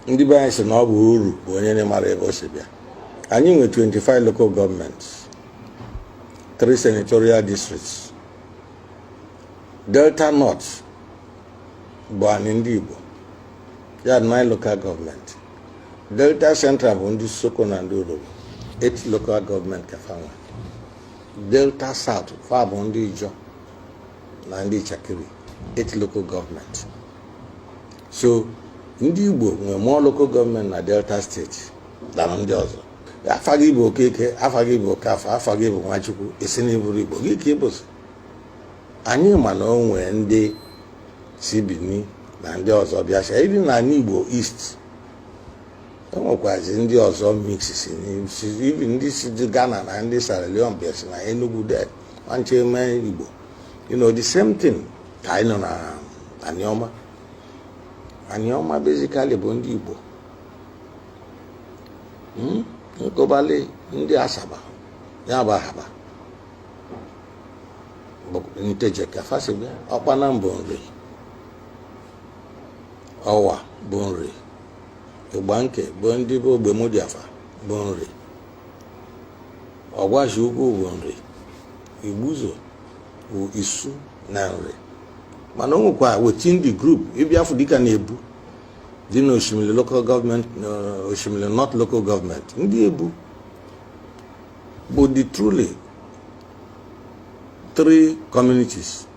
ndị be anyị sị na ọ bụ oru bụ onye na-amarọ ebe o si bịa anyị nwe 25 local government 3 senatorial districts delta north bụ anyị ndị igbo ya 9 local government delta central bụ ndị isoko na ndị urhobo 8 local government ka fa nwe delta south fa bụ ndị ijọ na ndị Itsekiri eight local government so ndị Igbo nwere more local government na Delta state than ndị ọzọ afa gị bụ Okeke afa gị bụ Okafor afa gị bụ Nwachukwu ị sị na ị bụrọ Igbo gị ka ị bụzi anyị ma na o nwee ndị si Benin na ndị ọzọ bịasịa even na anị Igbo East o nwekwazi ndị ọzọ mix si even ndị si Ghana na ndị Sierra Leone bịasịa na Enugu de nwanche eme igbo you know the same thing ka anyị nọ na aniọma aniọma basically bụ ndị igbo hmm? nkobali ndị asaba ya bụ ahaba nteje ka fa si bịa ọkpanam bụ nri ọwa bụ nri igbanke bụ ndị bụ ogbemudia fa bụ nri ọgwashi ukwu bụ nri igbuzo bụ isu na nri mana o nwekwa within the group ị bịa fụ dịka na ebu dị na oshimili local government na oshimili north local government ndị ebu bụ the truly three communities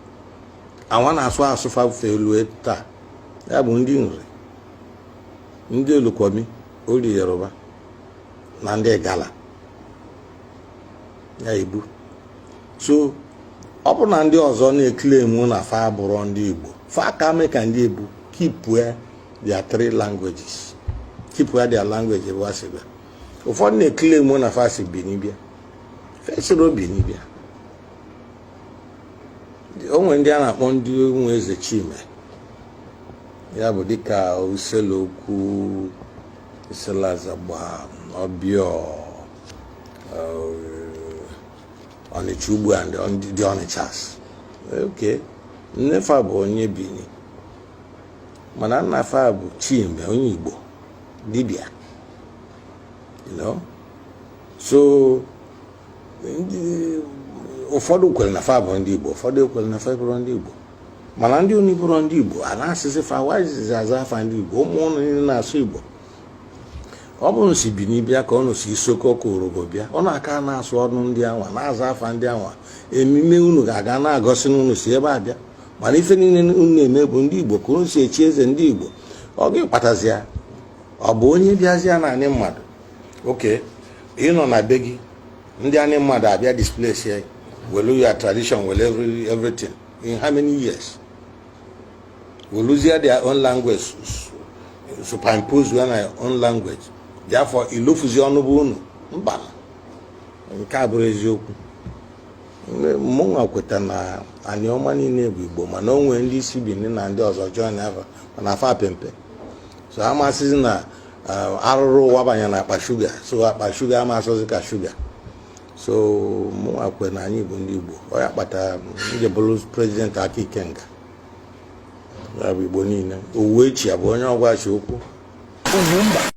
awa na-asụ asụ fa fe lue taa ya bụ ndị nri ndị olukumi or yoruba na ndị igala ya ebu so ọ bụ na ndị ọzọ na-eklemu na fa abụrọ ndị igbo fa ka mee ka ndị ebu kipue their three languages kipue their language ebe wa si bịa ụfọdụ na-eklemu na fa si bini bịa fa esirọ bini bịa o nwere ndị a na-akpọ ndị ụmụ eze chime ya bụ dịka issele uku issele azagba obior ọnịcha ugbo and the ọnịchas okay nne fa bụ onye bini mana nna fa bụ chime onye igbo dibịa you know so ụfọdụ kwere na fa bụ ndị Igbo ụfọdụ ekwere na fa bụrụ ndị Igbo mana ndị unu bụrụ ndị Igbo a na-asịsị fa wajizi aza afa ndị Igbo ụmụ unu niile na-asụ Igbo ọ bụrụ si Bini bịa ka unu si Isoko ọ bụ Urhobo bịa unu aka na-asụ ọnụ ndị anwa na-aza afa ndị anwa emume unu ga-aka na-egosi na unu si ebe a bịa mana ife niile unu na-eme bụ ndị Igbo ka unu si echi eze ndị Igbo ọ gị kpatazi ya ọ bụ onye bịazịa n'anị mmadụ okay ị nọ na be gị ndị anị mmadụ abịa displace ya welu your tradition welu everything in how many years weluzie their own language superimpose ya na own language therefore i lofuzi ọnụ be unu mba nke a abụrọ eziokwu mụnwa kweta na Anioma niile bụ Igbo mana o nwee ndị si Bini na ndị ọzọ join ava mana fa pe mpe so a ma-asịzi na arụrụ ụwa banye na akpa shuga so akpa shuga ama asọzi ka shuga so mụnwa kwe na anyị bụ ndị Igbo ọ ya kpata m ji bụrụ president Aka Ikenga ya bụ Igbo niile Uwechue bụ onye Ogwashi-Uku